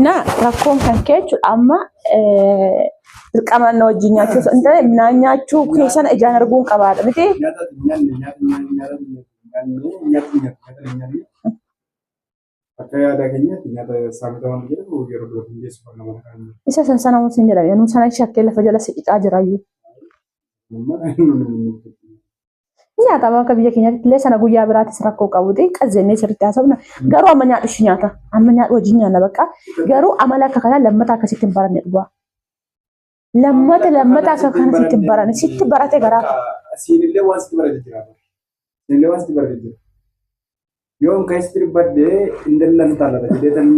Na rakkoon kan ka'e jechuudha amma dirqama na wajjin nyaachuu osoo hin taane naan nyaachuu keessan ijaan arguun qabaadha miti. Akka yaada keenyaatti nyaata saamota waan jedhamu yeroo biroo hin geessu kan nama kan Isa san sana hin jedhame. Nuu sana shakkee lafa jala siqicaa jirayyuu. nama kan Nyaatama akka biyya keenyaatti illee sana guyyaa biraatis rakkoo qabuti qazzennee sirriitti haasofna. Garuu amma nyaadhu ishii nyaata. Amma nyaadhu wajjin nyaanna bakka. Garuu amala akka kanaa lammata akkasitti hin baranne dhugaa. Lammata lammata akka kanaa sitti hin baranne sitti barate garaa. Siinillee waan sitti barate jira. Siinillee waan sitti barate jira. Yoon keessatti dubbadhee hin dallan taana jedheetan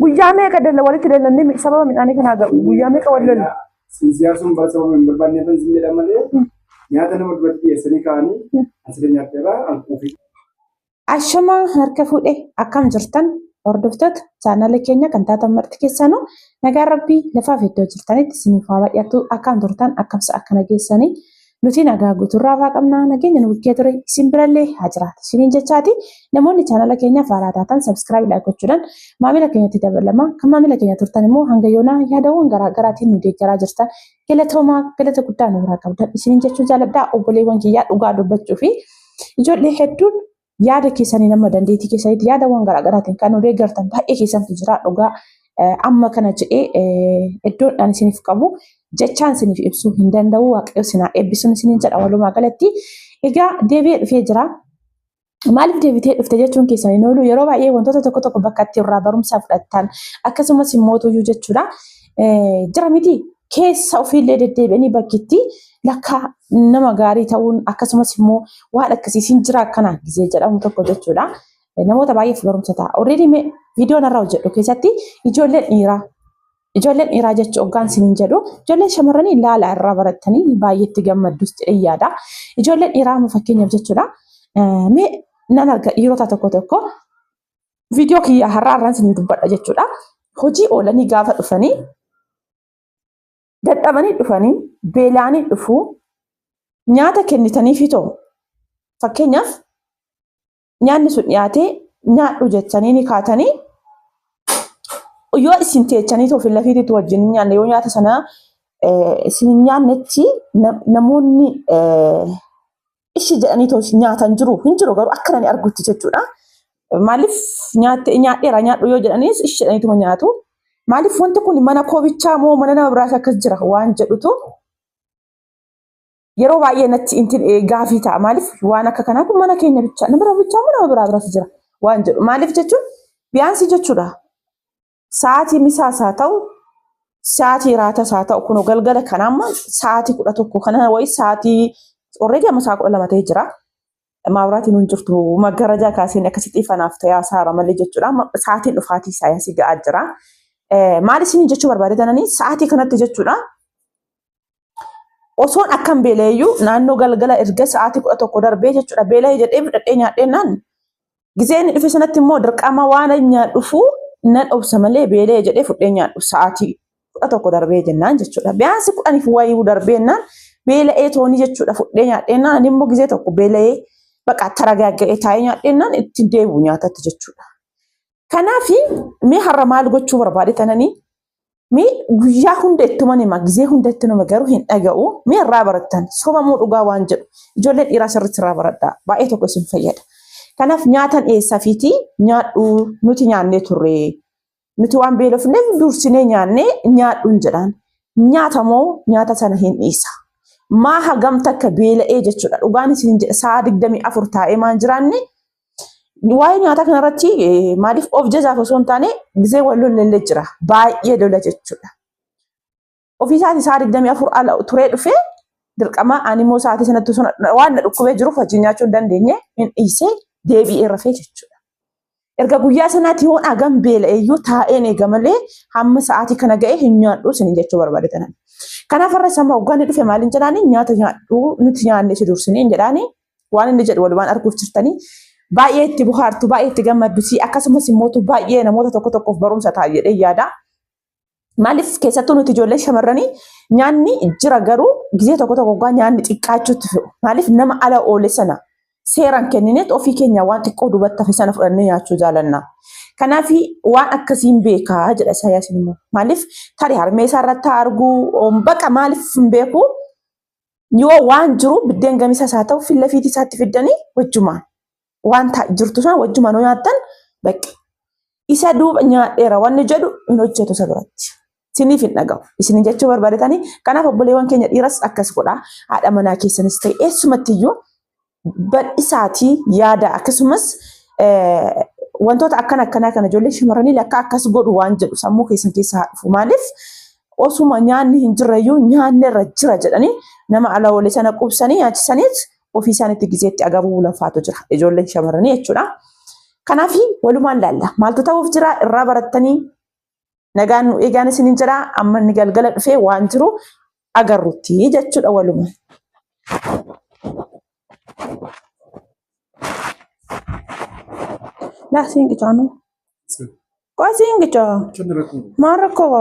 Guyyaa meeqa dalla walitti dallannee sababa midhaanii kanaa ga'u guyyaa meeqa wal lolle. Sinsiyaarsuun bara sababa hin barbaanne kan sin jedhan malee nyaata nama duratti dhiyeessanii kaa'anii asirra nyaatteerraa hanquufi. Ashamaa harka fuudhe akkam jirtan hordoftoota chaanala keenya kan taatan marti keessaanuu nagaan rabbii lafaaf iddoo jirtanitti isiniif haa baay'atu akkam turtan akkamsa akkana geessanii Nuti nagaa guutuu irraa irraa qabna nageenya nu bukkee ture isin birallee haa jiraatu isiniin jechaati namoonni chaanala keenyaaf haaraa taatan sabskiraayibidhaa gochuudhaan maamila keenyatti dabalama kan maamila keenya turtan immoo hanga yoonaa yaadawwan garaa garaatiin nu deeggaraa jirtan galatoomaa galata guddaa nu biraa qabdan isiniin jechuu jaaladhaa obboleewwan kiyyaa dhugaa dubbachuu fi ijoollee hedduun yaada keessaniin amma dandeettii keessanitti yaadawwan garaagaraatiin kan nu deeggartan baay'ee keessantu jira dhugaa amma kana jedhee iddoon ani isiniif qabu jechaan isiniif ibsuu hin danda'u waaqayyo sinaa eebbisuun isiniin jedha walumaa galatti egaa deebi'ee dhufee jira. Maaliif deebitee dhufte jechuun keessan hin oolu yeroo baay'ee wantoota tokko tokko bakka itti irraa barumsa fudhattan akkasumas immoo tuyyuu jechuudha jira miti keessa ofiillee deddeebi'anii bakkitti lakka nama gaarii ta'uun akkasumas immoo waan akkasiisin jira akkanaa gisee jedhamu tokko jechuudha. Namoota baay'eef barumsa ta'a. Already mee viidiyoo narra hojjedhu keessatti ijoolleen dhiiraa ijoolleen dhiiraa jechu oggaan sinin jedhu ijoolleen shamarranii laala irraa barattanii baay'eetti gammaddus jedhee yaada. Ijoolleen dhiiraa amma fakkeenyaaf jechuudha. Mee nan arga dhiirota tokko tokko viidiyoo kiyya har'aa irraan isin dubbadha jechuudha. Hojii oolanii gaafa dhufanii dadhabanii dhufanii beelaanii dhufuu nyaata kennitaniifi ta'u fakkeenyaaf nyaanni sun dhiyaatee nyaadhu jettanii ni kaatanii yoo isin teechanii ta'u fillafiitiitu wajjin nyaanne yoo nyaata sana isin nyaannetti namoonni ishi jedhanii too nyaatan jiru hin jiru garuu akka nani argutti jechuudha. Maaliif nyaatte nyaadheera nyaadhu yoo jedhaniis ishi jedhaniituma nyaatu. Maaliif wanti kun mana koobichaa moo mana nama biraas akkas jira waan jedhutu yeroo baay'ee natti inti gaafii ta'a. Maaliif waan akka kanaa kun mana keenya bichaa nama bira bichaa moo nama biraa biras jira waan jedhu. Maaliif jechuun biyaansii jechuudha. Sa'aatii misaas haa ta'u, sa'aatii raatas haa ta'u, kunoo galgala kana amma sa'aatii kudha tokko kana wayii sa'aatii already amma sa'a kudha lama ta'ee jira. Maawuraatiin hin jirtu maggarajaa kaaseen akkasitti ifanaaf ta'ee hasaara malee jechuudha. Amma Sa'aatiin dhufaatii saayinsii ga'aa jira. Eh, Maal isin jechuu barbaade tananii sa'aatii kanatti jechuudha. osoon akkan beela'eeyyuu naannoo galgala erga sa'aatii kudha tokko darbee jechuudha beela'ee jedhee fudhadhee nyaadhee naan gizee inni dhufe sanatti immoo dirqama waan nyaadhufu nan obsa malee beela'ee jedhee fudhee nyaadhu sa'aatii kudha tokko darbee jennaan jechuudha. Biyyaansi kudhaniif wayuu darbee naan beela'ee toonii jechuudha fudhee nyaadhee naan ani immoo gizee tokko beela'ee baqa taragaaga'ee taa'ee nyaadhee naan ittiin deebi'u nyaatatti jechuudha. Kanaafi mee har'a maal gochuu barbaade tananii mee guyyaa hunda itti uman hima gizee hunda itti nama garuu hin dhaga'u mee irraa barattan sobamuu dhugaa waan jedhu ijoollee dhiiraa sirriitti irraa baradhaa baay'ee tokko isin fayyada. Kanaaf nyaatan eessaa fiitii nyaadhu nuti nyaannee turre nuti waan beelofneef dursinee nyaannee nyaadhuun jedhaan nyaata moo nyaata sana hin dhiisa. Maa hagam takka beela'ee jechuudha dhugaan isin jedha sa'a digdamii afur taa'ee maan jiraanne Waa'ee nyaataa kanarratti eh, maaliif of jajaaf osoo hin taane gisee wal lollee jira. Baay'ee lola jechuudha. Ofii isaatii sa'a 24 ala turee dhufee dirqama animoo sa'aatii sanatti osoo na- waan na dhukkubee jiruuf wajjin nyaachuu hin dandeenye hin dhiisee deebi'ee rafee jechuudha. Erga guyyaa sanaatti yoon hagam beela'eeyyuu taa'een eega malee hamma sa'aatii kana ga'e hin nyaadhu isin jechuu barbaade tanan. Kanaaf irra sama hogganni dhufe maaliin jedhaani nyaata nyaadhu nuti nyaannee si dursinee hin jedhaani Waan inni jedhu walumaan arguuf jirtanii baay'ee itti bohaartu, baay'ee itti gammaddu si akkasumas immoo baay'ee namoota tokko tokkoof barumsa ta'a jedhee yaada. Maaliif keessattuu nuti ijoollee shamarranii nyaanni jira garuu gizee tokko tokko gaa nyaanni xiqqaachuutti fe'u. Maaliif nama ala oole sana seeraan kennineet ofii keenya waan xiqqoo duubatti hafe sana fudhannee nyaachuu jaalanna. Kanaaf waan akkasiin beekaa jedha Isaayyaas immoo. Maaliif tarii harmee isaa irratti haa argu baqa maaliif hin beeku yoo waan jiru biddeen gamisaas haa ta'u filla fiitii isaatti fiddanii wajjumaan waan ta- jirtu sana wajjumaan yoo nyaattan bakka isa duuba nyaadheera wanni jedhu hin hojjetu isa biratti. Isiniif hin dhaga'u. Isin jechuu barbaadetanii kanaaf obboleewwan keenya dhiiras akkas godhaa haadha manaa keessanis ta'e eessumatti iyyuu badhisaatii yaada akkasumas wantoota akkana akkanaa kana ijoollee shamarranii lakka akkas godhu waan jedhu sammuu keessan keessa haa dhufu. Maaliif osuma nyaanni hin jirreyyuu nyaanni irra jira jedhanii nama ala oole sana qubsanii nyaachisaniit ofii isaaniitti gizeetti agabuu lafaatu jira ijoolleen shamarranii jechuudha. Kanaaf walumaan laalla maaltu ta'uuf jira irraa barattanii Nagaan nu eegaan isinin jedha amma inni galgala dhufee waan jiru agarrutti jechuudha waluma. Laa siin qicaa nu. Qoy siin qicaa. Maal rakkoo qaba?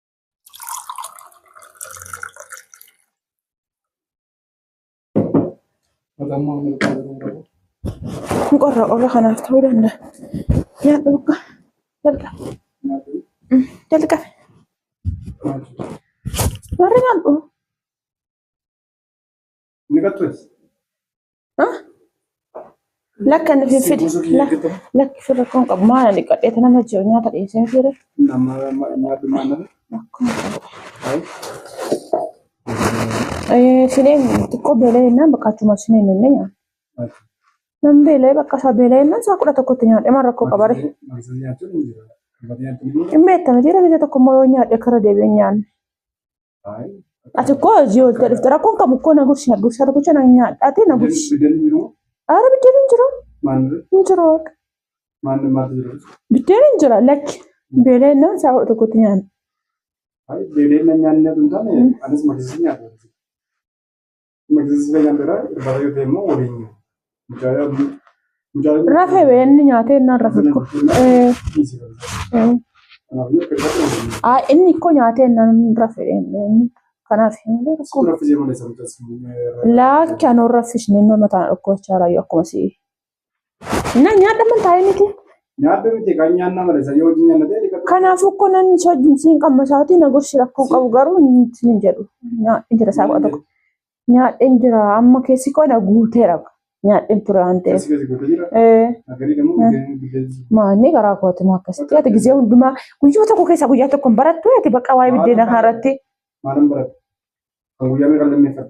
Qorra qorra kanaaf ta'uu danda'a. Yaa dhugaa. Jalqabe. Jalqabe. Warri nyaadhu. Lakka inni fiffide. Lakki firra kun qabu maana dhiqadhee tana na jiru nyaata dhiyeessee hin fiire. Sineen xiqqoo beelee jennaan bakka achuma sineen jennee nyaata. Nan beelee bakka isaa beelee jennaan isaa kudha tokkotti nyaadhe maal rakkoo qabare. Hin beektan jira biyya tokko immoo yoo nyaadhe karra deebi'ee nyaanne. Ati koo hojii hojjaa dhufte rakkoon qabu koo na gursi gursa tokkicha na nyaadhaate na gursi. Aara biddeen hin jiru. Hin jiru waaqa. Biddeen hin jira lakki. Beelee innaan isaa kudha tokkotti nyaanna. Beelee innaan nyaanni nyaatu hin taane anis maqsisii nyaata. Rafe bee inni nyaatee innaan rafe ko. Aa inni ko nyaatee innaan rafe inni kanaaf hin beeku. Laakki anoo raffisne nama tana dhukkubachaa raayyu akkuma si'i. Na nyaadha man taa'ee miti. Nyaadhu miti kan nyaanna malee isa yoo hojii nyaanna ta'e dhiqatu. Kanaafuu ko nan soojin siin qamma isaatii na gorsi rakkoo qabu garuu hin jedhu. Nyaadhin jira isaa kudha tokko. Nyaadhin jira amma keessi koo na guuteera. Nyaadhin ture waan ta'eef. Keessi keessi guutuu jira. Eh, Agarii dammoo biddeen biddeen. Maanni garaa kooti moo akkasitti ati gizee hundumaa guyyaa tokko keessaa guyyaa tokko hin barattu ati bakka waa'ee biddeena kanarratti. Maalan barate? Kan guyyaa meeqan lammeeffadha?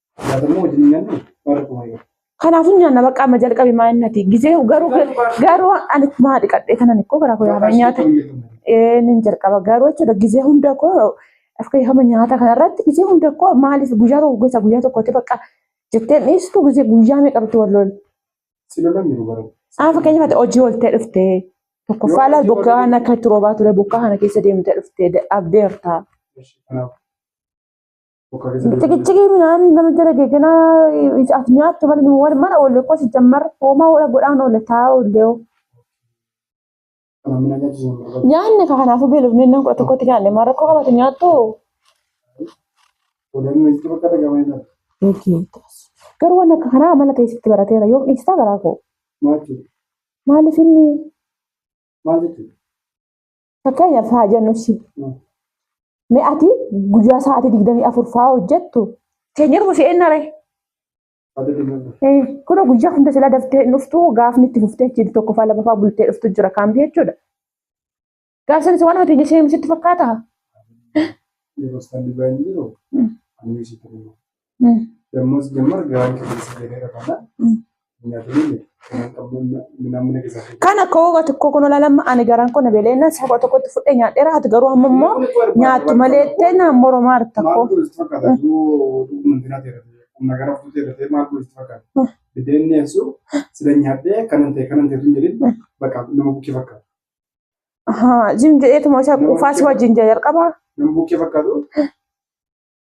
Kanaafuu nyaanna bakka amma jalqabe maa inni ati gisee garuu garuu ani maa dhiqadhee kanan ikkoo garaa koo yaafaa nyaata nin jalqaba garuu jechuudha gisee hunda koo akka yaafama nyaata kanarratti gisee hunda koo maaliif guyyaa tokko gosa guyyaa tokkotti bakka jetteen dhiistu gisee guyyaa meeqa bitti wal loolu. Haa fakkeenyaaf ati hojii ooltee dhuftee tokkoffaa laal bokkaa kana akka itti roobaa ture bokkaa kana keessa deemtee dhuftee abdeertaa. Bokaa keessa deebi'ee. Ciqicciqii midhaan nama jala geeganaa as nyaattu malee wal mana oolle qosi jammar hoomaa oola godhaan oolle taa oolle hoo. Namni na nyaachisee hin barbaadu. Nyaanne ka kanaafuu beelofne nan kudha tokkotti nyaanne maa rakkoo qabatu nyaattu. Odeeffannoo itti bakka dhagahamee jira. Eegeetas. Garuu waan akka kanaa amala ta'e sitti barateera yoo dhiistaa garaa koo. Maal jechuudha? Maaliif inni Maal jechuudha? Fakkeenyaaf haa jennu si. Mee ati guyyaa sa'aatii digdamii afur fa'aa hojjettu teenyatu busee eenna ree? Kuna guyyaa hunda silaa daftee hin dhuftu gaafni itti fuftee achiin tokko fa'aa lama fa'aa bultee dhuftu jira kaambi jechuudha. Gaaf sanis waan hojii ishee sitti fakkaata. Yeroo isaan dhibbaa hin jiru. Ani sitti hima. Dammoos jammar gahaan keessatti jedhee rafana. Kana kooba tokko kun olalama ani garaan kun beeleenna saba tokkotti fudhee nyaadheera ati garuu amma immoo nyaattu malee teena moroo maal tokko. Nagara fuutee dafee maal gochuu fakkaata? Biddeen dhiyeessu sila nyaadhee kanan ta'e kanan ta'e tun jedhin bakka nama bukkee fakkaata. Jim jedheetuma isa quufaas wajjin jalqaba. Nama bukkee fakkaatu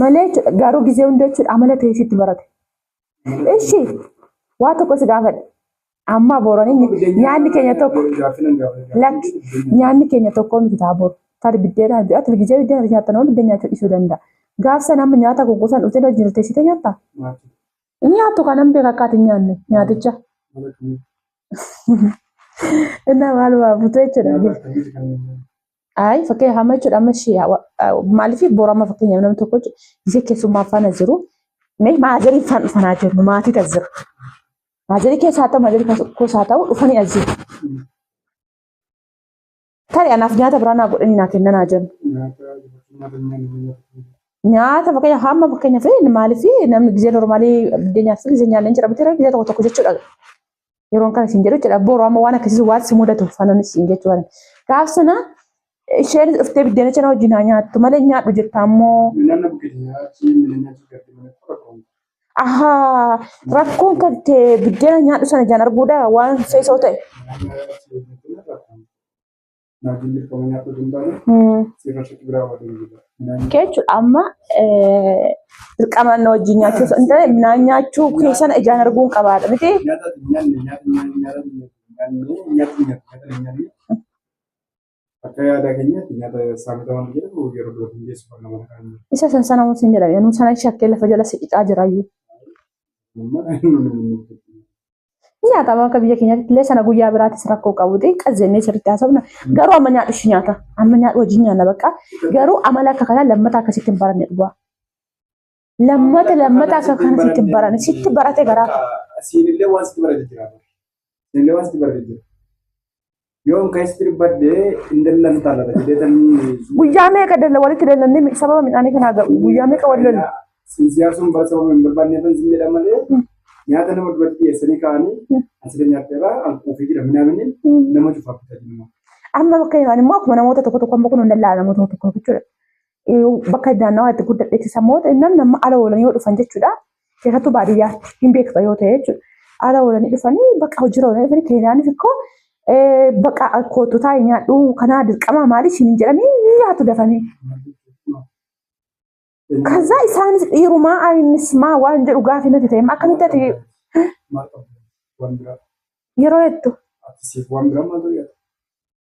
malee jechuudha. Garuu gizee hunda jechuudha amala ta'ee sitti barate. Ishi waa tokko si gaafadhe. Amma booranii nyaanni keenya tokko lakki nyaanni keenya tokko miti ta'a boru. Taate biddeena ati gizee biddeena ati nyaattan waan biddeena nyaachuu dhiisuu danda'a. Gaafsan amma nyaata kukuusan dhufte irra jirte site nyaatta. Nyaattu kanan beeka akka ati nyaanne nyaaticha. Innaa maal waa butee jechuudha. Ayi fakkeenya hamma jechuudha amma ishee maaliif borama fakkeenyaaf namni tokko ishee keessummaa faana jiru mee maazarii faan dhufanaa jiru maatii tas jiru. Maazarii keessaa ta'u maazarii keessaa ta'u dhufanii as jiru. Tarii anaaf nyaata biraa naa godhanii naa kennan haa jennu. Nyaata fakkeenyaaf hamma fakkeenyaaf maaliif namni gizee normaalii biddeenya fi gizee nyaanni hin jira bitira gizee tokko tokko jechuudha. yeroon kana siin jedhu jechuudha boru amma waan akkasiis waan si mudatu fananis siin jechuu kana gaaf sana isheen dhuftee biddeena cina wajjin haa nyaattu malee nyaadhu jirta ammoo Minanna buketinya achi minanna jigatti mana tura kun. ahaa rakkoon kan kee biddeena nyaadhu sana jaan arguudha waan seesoo ta'e Minanna achi buketinya tura kun. Jechuun amma dirqama inni wajjin nyaachuu osoo hin taane midhaan nyaachuu keessan ijaan arguun qabaadha miti. Akka yaada keenyaatti nyaata saamota waan jedhamu yeroo dura hin geessu kan nama kan Isa san sana waan sin jedhame. Anuu sana shakkee lafa jala siqicaa jira iyyuu. Nyaatama akka biyya keenyaatti illee sana guyyaa biraatis rakkoo qabuti qazzennee sirriitti haasofna. Garuu amma nyaadhu ishii nyaata. Amma nyaadhu wajjin nyaanna bakka. Garuu amala akka kanaa lammata akka sitti hin baranne dhugaa. Lammata lammata akka kana sitti hin baranne sitti barate garaa. Siinillee waan sitti barate jira. Siinillee waan sitti barate jira. Yoon keessatti dubbadde hin dallan taala jedhee tan Guyyaa meeqa dalla walitti dallannee sababa midhaanii kanaa ga'u guyyaa meeqa wal lolle. Sinsiyaasuun bara sababa hin barbaadne tan sin jedhan malee nyaata nama duratti dhiyeessanii kaa'anii asirra nyaatteera alkuufii jira minaamini nama cufaaf bitanii. Amma bakka himaan immoo akkuma namoota tokko tokko amma kun hin dallaa namoota tokko tokko jechuudha. bakka naannawaa itti guddadhetti sammoota namni amma ala oolan yoo dhufan jechuudha. Keessattuu baadiyyaatti hin beekta yoo ta'e jechuudha. Ala oolanii dhufanii bakka hojiirra oolanii dhufanii keenyaanis ikkoo bakka kootu taa'e nyaadhu kanaa dirqamaa maali siin hin jedhanii ni nyaatu dafanii. Kaza isaanis dhiirumaa ayinis maa waan jedhu gaafi natti ta'e akkamitti ati yeroo hedduu.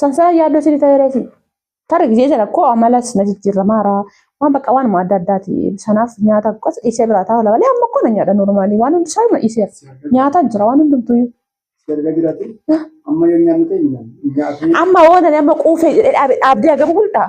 Sansaa yaaddoo sirrii ta'ee reefi. Tarii gisee sana koo amalas na jijjiirramaara. Waan bakka waanuma adda addaati. Sanaaf nyaata qos dhiisee biraa taa'u lama malee amma koo na nyaadha normaalii waan hundi isaa hima dhiiseera. Nyaataan jira waan hundumtuu iyyuu. Erga jiraate amma yoo nyaannu ta'e nyaanna. Nyaatee Amma waan ani amma quufee jedhee dhaabe dhaabdee hagam bultaa?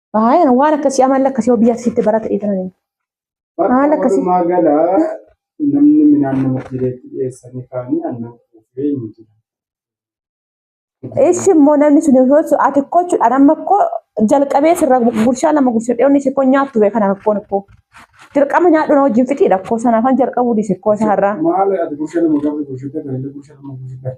Baay'een waan akkasii amala akkasii biyya asitti barata eegalan. Haala akkasii. Walumaa gala namni midhaan nama jireetti dhiyeessanii kaanii annan kuufee hin jiru. Ishi immoo namni sun yoo ta'u ati koo jechuudhaan amma koo jalqabee sirra gurshaa lama gurshaa dhiyoo inni sikkoo nyaattu bee kana rakkoon koo. Dirqama nyaadhu na wajjin fixiidha koo sanaafan jalqabuu dhiise koo isa har'aa. Maal ati gurshaa nama gaafa gurshaa ta'e kan inni gurshaa nama gurshaa ta'e.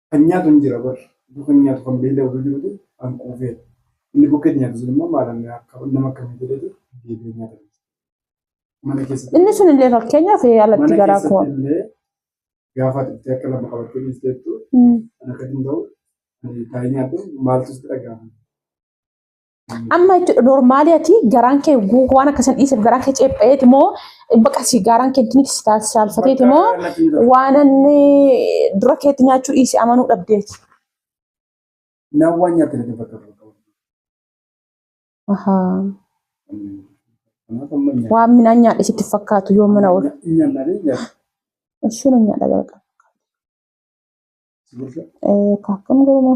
Kan nyaatu hin jira bar. Utuu kan nyaatu kan beela'e utuu jiruuti an quufee. Inni bukkeetti nyaatu sun immoo maal anni akka nama akkamii jedheeti deebi'ee nyaata. Mana keessatti Inni sun illee fakkeenyaaf ee, alatti mana garaa koo. keessatti illee gaafa ati itti akka lama qabattee dhiisteettu Mm. kan akka hin ta'u ani taa'ee nyaadhu maaltu sitti dhaga'ama. Amma jechuudha normaalii ati garaan kee guutuu waan akkasii dhiiseef garaan kee ceepha'eeti moo baqa si garaan kee ittiin si saalfateeti moo waan inni dura keetti nyaachuu dhiise amanuu dhabdeeti. Nawwaan nyaatee lafa bakka bakka. Ahaa. Kanaaf amma nyaata. Waan midhaan nyaadhe sitti fakkaatu yoo mana oolu. Nyaannaalee nyaata. Ishuu na nyaadha jalqaba. Sibiilsa. Kaakkan garuma.